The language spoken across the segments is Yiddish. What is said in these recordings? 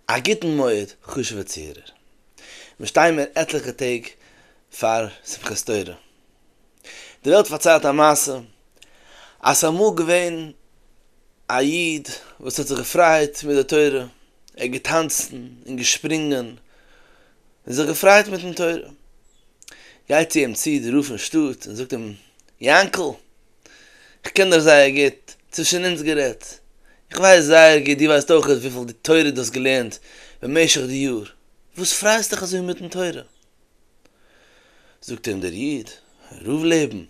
א גוטן מועד חשוב'ע צוהערער. מיר שטייען מיר עטליכע טעג פאר שמחת תורה. די וועלט פארציילט א מעשה אז ס'איז אמאל געווען א איד וואס האט זיך געפריידט מיט די תורה, ער האט געטאנצן און געשפרינגען און זיך געפריידט מיטן תורה. גייט צו אים צו די רב פון שטאט און זאגט אים, יענקל! איך קען דיר זייער גוט, צווישן אונז גערעדט, איך ווייס זייער גוט, דו ווייסט אויך וויפיל די תורה דו האסט געלערנט במשך די יאר, וואס פרייסט דיך אזוי מיטן תורה? זאגט אים דער איד, רוב לעבן,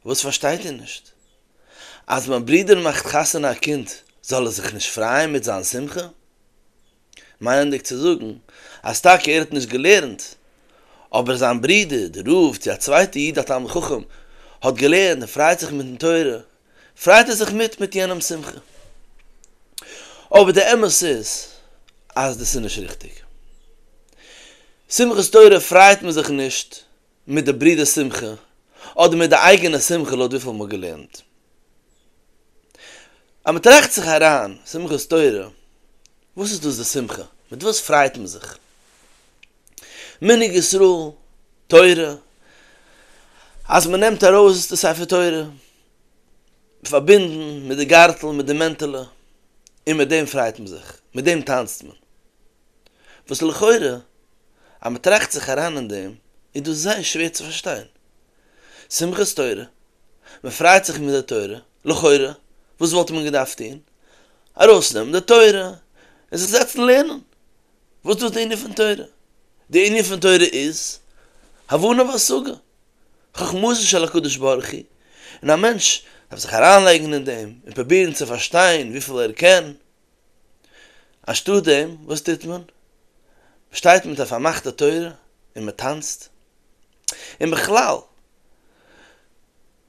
וואס פארשטייט איר נישט? אז מיין ברודער מאכט חתונה א קינד, זאל ער זיך נישט פרייען מיט זיין שמחה? מיינענדיג צו זאגן אז טאקע ער האט נישט געלערנט, אבער זיין ברודער דער רב צו א צווייטער איד א תלמיד חכם האט געלערנט און פרייט זיך מיטן תורה, פרייט ער זיך מיט מיט יענעמס שמחה. אבער די אמת איז אז דאס איז נישט ריכטיג. שמחת תורה פרייט מען זיך נישט מיט די ברודער'ס שמחה, אדער מיט די אייגענע שמחה לויט וויפיל מ'האט געלערנט. אז מ'טראכט זיך אריין, שמחת תורה, וואס איז דאס די שמחה? מיט וואס פריידט מען זיך? מנהג ישראל, תורה, אז מ'נעמט ארויס די ספר תורה, פארבינדן מיט די גארטל, מיט די מענטעלע, און מיט דעם פריידט מען זיך, מיט דעם טאנצט מען. וואס לכאורה אז מען טראכט זיך אריין אין דעם איז דאס זייער שווער צו פארשטיין. שמחת תורה, מען פריידט זיך מיט די תורה, לכאורה וואס וואלט מען געדארפט טון? ארויסנעמען די תורה און זיך זעצן לערנען. וואס דאס די ענין פון תורה? די ענין פון תורה איז הבנה והשגה, חכמתו של הקדוש ברוך הוא, און א מענטש דארף זיך אריינלייגן אין דעם און פרובירן צו פארשטיין וויפיל ער קען, אנשטאט דעם וואס טוט מען? מען שטייט מיט א פארמאכטע תורה און מען טאנצט? און בכלל,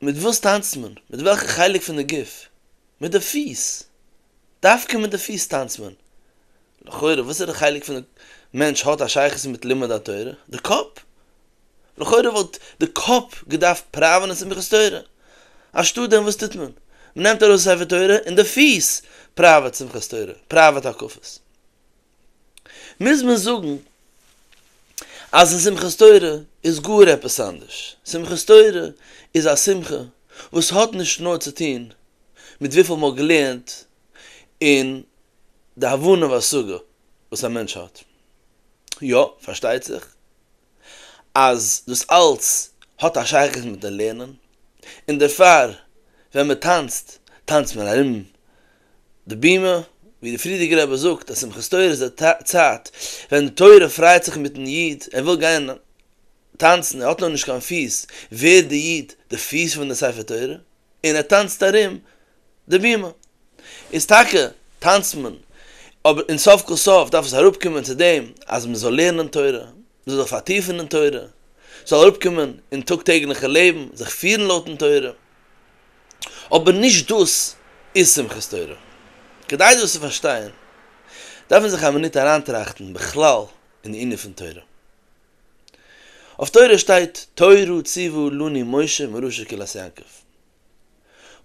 מיט וואס טאנצט מען? מיט וועלכע חלק פון די גוף? מיט די פיס! דווקא מיט די פיס טאנצט מען! לכאורה וואסערע חלק פון די מענטש האט א שייכות מיט לימוד התורה? די קאפ! לכאורה וואלט די קאפ געדארפט פראווען אין שמחת תורה. אנשטאט דעם וואס טוט מען? מ'נעמט ארויס די ספר תורה און די פיס פראוועט שמחת תורה, פראוועט הקפות. מוז מען זאגן אז אין שמחת תורה איז גאר עפעס אנדערש. שמחת תורה איז א שמחה וואס האט נישט נאר צו טון מיט וויפיל מ'האט געלערנט און די הבנה והשגה. וואס א מענטש האט. יא, פארשטייט זיך אז דאס אלץ האט א שייכות מיט'ן לערנען, און דערפאר ווען מען טאנצט, טאנצט מען ארום די בימה, ווי דער פריערדיגער רבי זאגט אז שמחת תורה איז די צייט ווען די תורה פריידט זיך מיט'ן איד, ער וויל גיין טאנצן, ער האט נאר נישט קיין פיס, ווערט דער איד די פיס פון די ספר תורה, און ער טאנצט ארום די בימה איז טאקע טאנצט מען אבער אין סוף כל סוף דארף עס אראפ קומען צו דעם אז מען זאל לערנען תורה, מען זאל זיך פארטיפן אין תורה, ס'זאל אראפ קומען אין טאג טעגליכע לעבן זיך פירן לויטן תורה, אבער נישט דאס איז שמחת תורה. כדי דאס צו פארשטיין דארף מען זיך א מינוט אריינטראכטן בכלל אין די ענין פון תורה. אויף תורה שטייט תורה ציוו לנו משה מראשית כלת יעקב,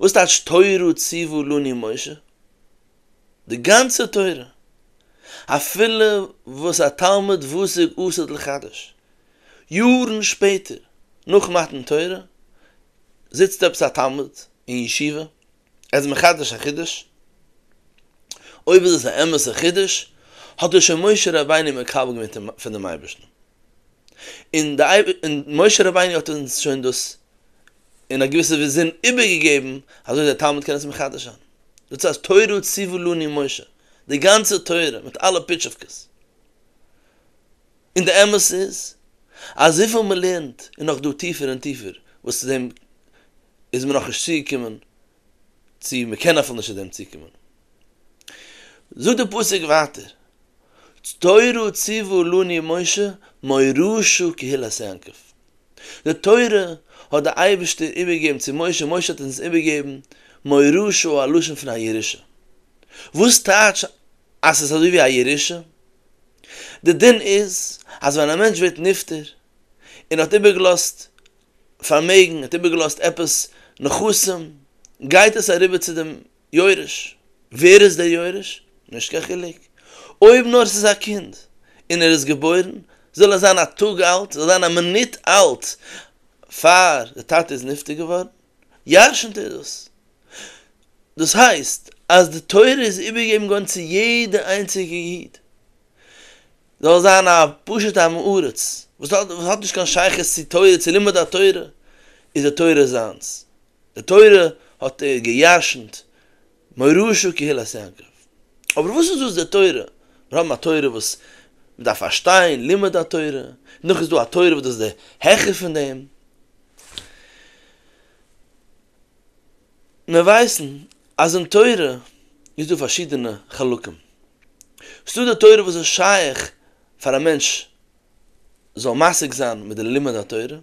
וואס טייטש תורה ציוו לני משה? די גאנצע תורה, אפילו וואס א תלמוד וואסג אסר'ט לחדש, יארן שפעטער נאך מתן תורה, זיצט עפעס א תלמוד אין ישיבה, ער איז מחדש א חידוש, אויב איז עס א אמת'ע חידוש, האט עס שוין משה רבינו מקבל געווען פונעם אייבערשטן, און משה רבינו האט אונז שוין דאס. אין א געוויסע וויזין איבערגעגעבן אזוי דער תלמיד קען עס מחדש זיין דא צו אז תורה ציוו לנו משה די גאנצע תורה מיט אלע פיטשעווקעס און די אמת איז אז וויפיל מ'לערנט איז נאך דא טיפער און טיפער וואס צו דעם איז מען נאכנישט צוגעקומען צו מען קען אפילו נישט צו דעם צוקומען. זאגט דער פסוק ווייטער, תורה ציוו לני משה מורישו קהילת יעקב, די תורה האט דער אייבערשטער איבערגעגעבן צו משה, משה האט אונז איבערגעגעבן מורישו א לשון פון א ירושה, וואס טייטש אז עס איז אזוי ווי א ירושה? די דין איז אז ווען א מענטש ווערט נפטר און האט איבערגעלאזט פארמעגן, האט איבערגעלאזט עפעס נכסים, גייט עס אריבער צו דעם יורש, ווער איז דער יורש? נישט קיין חילוק, אויב נאר עס איז א קינד און ער איז געבוירן, זאל ער זיין א טאג אלט, זאל זיין א מינוט אלט פאר דער טאטע איז נפטר געווארן, ירשנ'ט ער דאס. דאס הייסט אז די תורה איז איבערגעגעבן געווארן צו יעדע איינציגע איד. זאל זיין א פשוטע עם הארץ וואס האט וואס האט נישט קיין שייכות צו תורה צו לימוד התורה איז די תורה זיינס די תורה האט ער געירשנט מוהראשו קהילת יעקב אבער וואס איז דאס די תורה מיר האבן א תורה וואס מען דארף פארשטיין לימוד התורה נאך איז דא א תורה וואס דאס איז די העכער פון דעם. מיר ווייסן אז אין תורה איז דא פארשידענע חלקים. ס'דא די תורה וואס איז שייך פאר א מענטש זאל משיג זיין מיט די לימוד התורה,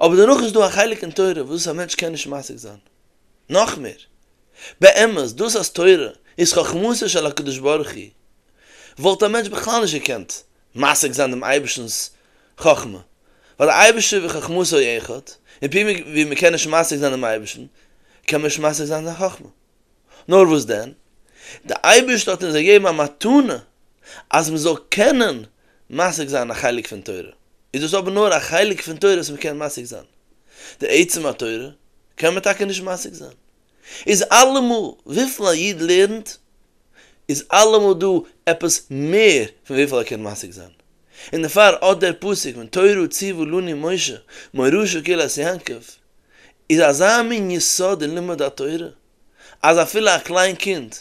אבער דערנאך איז דא א חלק אין תורה וואס א מענטש קען נישט משיג זיין. נאך מער, באמת דאס אז תורה איז חכמתו של הקדוש ברוך הוא וואלט א מענטש בכלל נישט געקענט משיג זיין דעם אייבערשטנ'ס חכמה, ווייל דער אייבערשטער וחכמתו היא אחד, און פי מער ווי מען קען נישט משיג זיין דעם אייבערשטן, קען מען נישט משיג זיין זיין חכמה. נאר וואס דען, דער אייבערשטער האט אונז געגעבן א מתנה אז מען זאל קענען משיג זיין א חלק פון תורה, איז דאס אבער נאר א חלק פון תורה וואס מען קען משיג זיין, די עצם התורה קען מען טאקע נישט משיג זיין. איז אלעמאל וויפיל א איד לערנט איז אלעמאל דא עפעס מער פון וויפיל ער קען משיג זיין, און דערפאר אט דער פסוק פון תורה ציוו לנו משה מוהרא ש קהילת יעקב איז אזא מין יסוד אין לימוד התורה אז אפילו א קליין קינד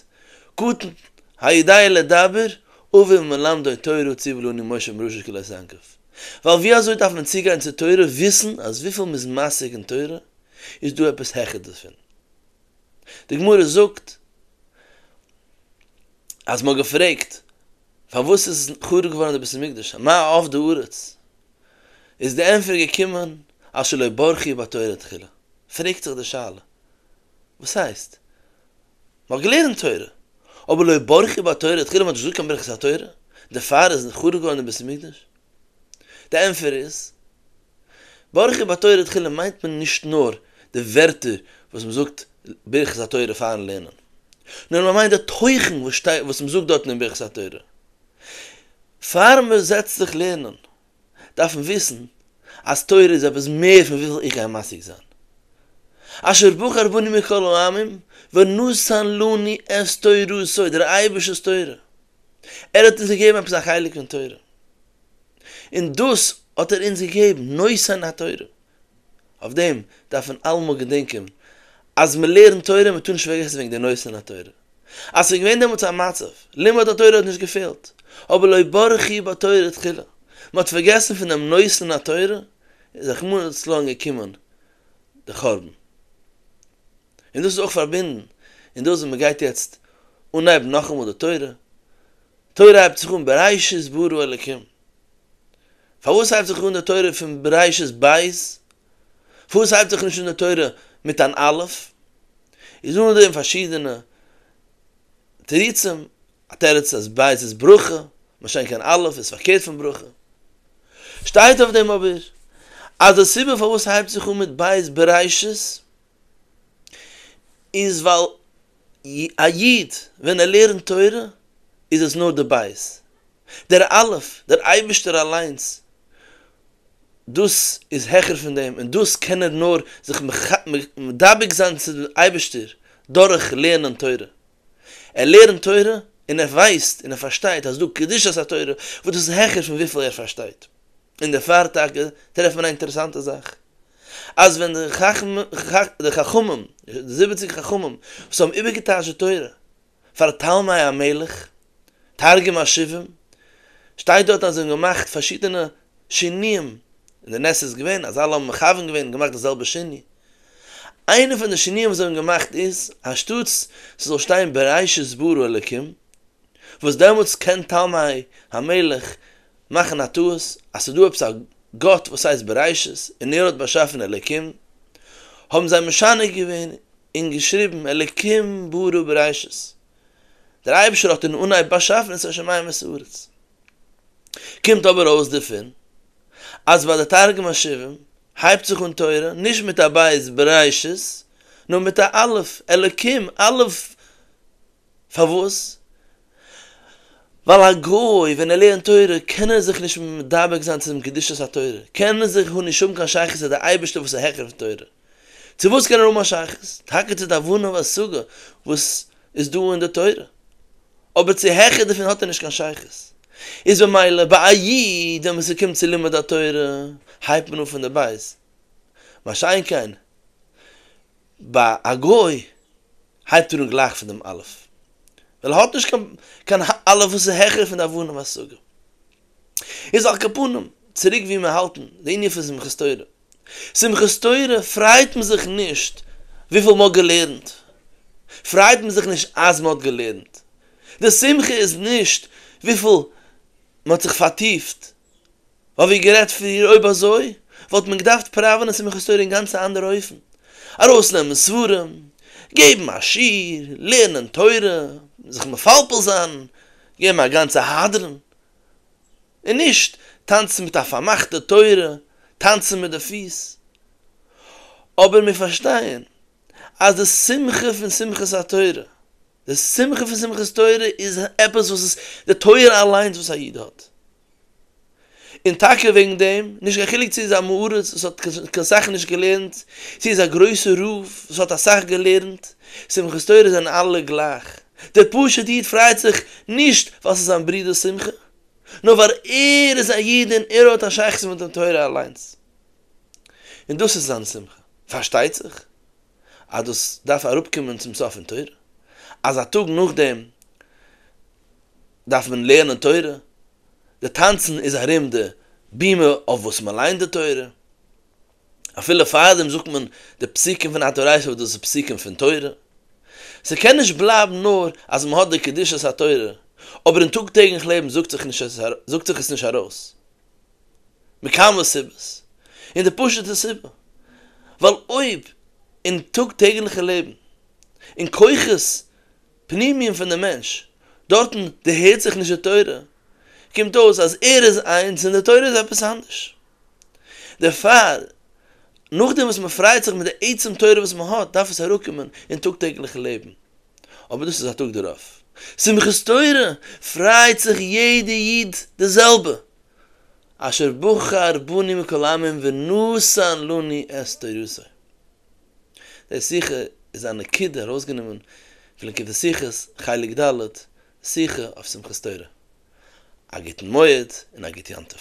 קטן היודע לדבר אביו מלמדו תורה ציוו לנו משה מוהרא ש קהילת יעקב ווייל ווי אזוי דארף מען צוגיין צו תורה וויסן אז וויפיל מ'איז משיג אין תורה איז דא עפעס העכער דערפון? די גמרא זאגט אז מען האט געפרעגט פארוואס איז חרוב געווארן די בית המקדש מה אבדה הארץ? איז די ענפער געקומען אז שלא ברכו בתורה תחילה, פרעגט זיך די שאלה וואס הייסט מען האט געלערנט תורה אבער לא ברכו בתורה תחילה מען האט נישט געזאגט קיין ברכת התורה דערפאר איז חרוב געווארן די בית המקדש? די ענפער איז. ברכי בתורה תחילה מיינט מען נישט נאר די ווערטער וואס מען זאגט ברכת התורה פארן לערנען, נאר מען מיינט די תוכן וואס שטייט וואס מען זאגט דארטן אין ברכת התורה. פאר מען זעצט זיך לערנען דארף מען וויסן אז תורה איז עפעס מער פון וויפיל איך גיי משיג זיין. אשר בחר בני מכל העמים ונתן לנו את תורתו, דער אייבערשטער'ס תורה, ער האט אונז געגעבן עפעס א חלק פון תורה. און דאס האט ער אונז געגעבן, נושאין התורה. אויף דעם דארף מען אלעמאל געדענקען אז מען לערנט תורה, מען טאר נישט פארגעסן וועגן די נושאין התורה. אז ס'איז געווען דעמאלטס א מצב, לימוד התורה האט נישט געפעלט, אבער לא ברכי בתורה תחילה, מען האט פארגעסן פון דעם נושאין התורה, איז רחמנא לצלן געקומען די חורבן. און דאס איז אויך פארבינדן אין דאס וואס מען גייט יעצט אנהייבן נאכאמאל די תורה, תורה הייבט זיך אן בראשית ברא אלקים, פארוואס הייבט זיך אן די תורה פון בראשית בית, פארוואס הייבט זיך נישט אן די תורה מיט אן אלף, איז אן דעם פארשידענע תירוצים, א תירוץ אז בית איז ברכה, משא כ אלף איז פארקערט פון ברכה, שטייט אויף דעם אבער אז די סיבה פארוואס ס'הייבט זיך אן מיט בית בראשית איז ווייל א איד ווען ער לערנט תורה איז עס נאר די בית, דער אלף, דער אייבערשטער אליינס, דאס איז העכער פון דעם און דאס קען ער נאר זיך מדבק זיין צו דעם אייבערשטער דורך לערנען תורה, ער לערנט תורה און ער ווייסט און ער פארשטייט אז דא קדושת התורה וואס דאס איז העכער פון וויפיל ער פארשטייט. און דערפאר טאקע טרעפט מען א אינטערעסאנטע זאך, אז ווען די חכמים, די זיבעציג חכמים וואס האבן איבערגעטייטשט די תורה פאר תלמי המלך, תרגום השבעים, שטייט דארט אז זיי האבן געמאכט פארשידענע שינויים, און די נס איז געווען אז אלע האבן מכוון געווען און געמאכט די זעלבע שינוי. איינע פון די שינויים וואס זיי האבן געמאכט איז, אנשטאטס ס'זאל שטיין בראשית ברא אלוקים, וואס דעמאלטס קען תלמי המלך מאכן א טעות אז ס'דא עפעס א גאט וואס הייסט בראשית און ער האט באשאפן אלוקים, האבן זיי משנה געווען און געשריבן אלוקים ברא בראשית, דער אייבישטער האט אין אנהייב באשאפן את השמים ואת הארץ. קומט אבער אויס דערפון אז ביי די תרגום השבעים הייבט זיך אן תורה נישט מיט א בית בראשית נאר מיט א אלף, אלוקים אלף פארוואס? ווייל א גוי ווען ער לערנט תורה קען ער זיך נישט מדבק זיין צו דעם קדושת התורה, קען ער זיך נישט האבן קיין שייכות צו דער אייבערשטער וואס איז העכער פון תורה. צו וואס קען ער האבן א שייכות? טאקע צו די הבנה והשגה וואס איז דא אין די תורה, אבער צו העכער דערפון האט ער נישט קיין שייכות. איז ממילא ביי א איד ווען עס קומט צו לימוד התורה הייבט מען אן פון די בית, מה שאין כן, ביי א גוי הייבט ער אן גלייך פון דעם אלף, ווייל ער האט נישט קיין קיין אלף וואס איז העכער פון די אבנים והסוגים. איז על כפנים, צוריק ווי מיר האלטן די ענין פון שמחת תורה. שמחת תורה פריידט מען זיך נישט וויפיל מען האט געלערנט, פריידט מען זיך נישט אז מען האט געלערנט. די שמחה איז נישט וויפיל מען האט זיך פארטיפט האב איך גערעדט פריער אויב אזוי וואלט מען געדארפט פראווענען שמחת תורה אין גאנץ א אנדערע אופן, ארויסנעמען ספרים, געבן א שיעור, לערנען תורה, זיך מפלפל זיין, געבן א גאנצע הדרן, און נישט טאנצן מיט א פארמאכטע תורה, טאנצן מיט די פיס. אבער מיר פארשטייען אז די שמחה פון שמחת התורה, די שמחה פון שמחת תורה איז עפעס וואס איז די תורה אליינס וואס א איד האט. און טאקע וועגן דעם, נישט קיין חילוק צו איז א מאורע וואס האט קיין סאך נישט געלערנט, צו איז א גרויסע רב וואס האט אסאך געלערנט, שמחת תורה זענען אלע גלייך. דער פשוט איד פריידט זיך נישט ווייל ס'איז זיין ברודער'ס שמחה, נאר ווייל ער איז א איד און ער האט א שייכות מיט דעם תורה אליינס. און דאס איז זיין שמחה. פארשטייט זיך אז דאס דארף אראפקומען צום סוף אין תורה, אז א טאג נאכדעם, דארף מען לערנען תורה, די טאנצן איז ארום די בימה אויף וואס מען ליינט די תורה, אפילו פארדעם זאגט מען די פסוקים פון התורייתא וואס דאס איז פסוקים פון תורה, ס'קען נישט בלייבן נאר אז מען האט די קדושת התורה, אבער אין טאג טעגליך לעבן זאגט זיך נישט עס זאגט זיך עס נישט ארויס, מכמה סיבות, און די פשוט'ע סיבה, ווייל אויב אין טאג טעגליכע לעבן, אין כוחות פנימיים פון די מענטש, דארטן דערהערט זיך נישט די תורה, קומט אויס אז ער איז איינס און די תורה איז עפעס אנדערש. דערפאר, נאכדעם וואס מען פריידט זיך מיט די עצם תורה וואס מען האט, דארף עס אראפקומען אין טאג טעגליכן לעבן. אבער דאס איז א טאג דערויף. שמחת תורה פריידט זיך יעדע איד די זעלבע, אשר בחר בני מכל העמים ונתן לנו את תורתו. די שיחה איז א נקודה ארויסגענומען פון ליקוטי שיחות, חלק ד', שיחה אויף שמחת תורה, א גוטן מועד און א גוט יום טוב.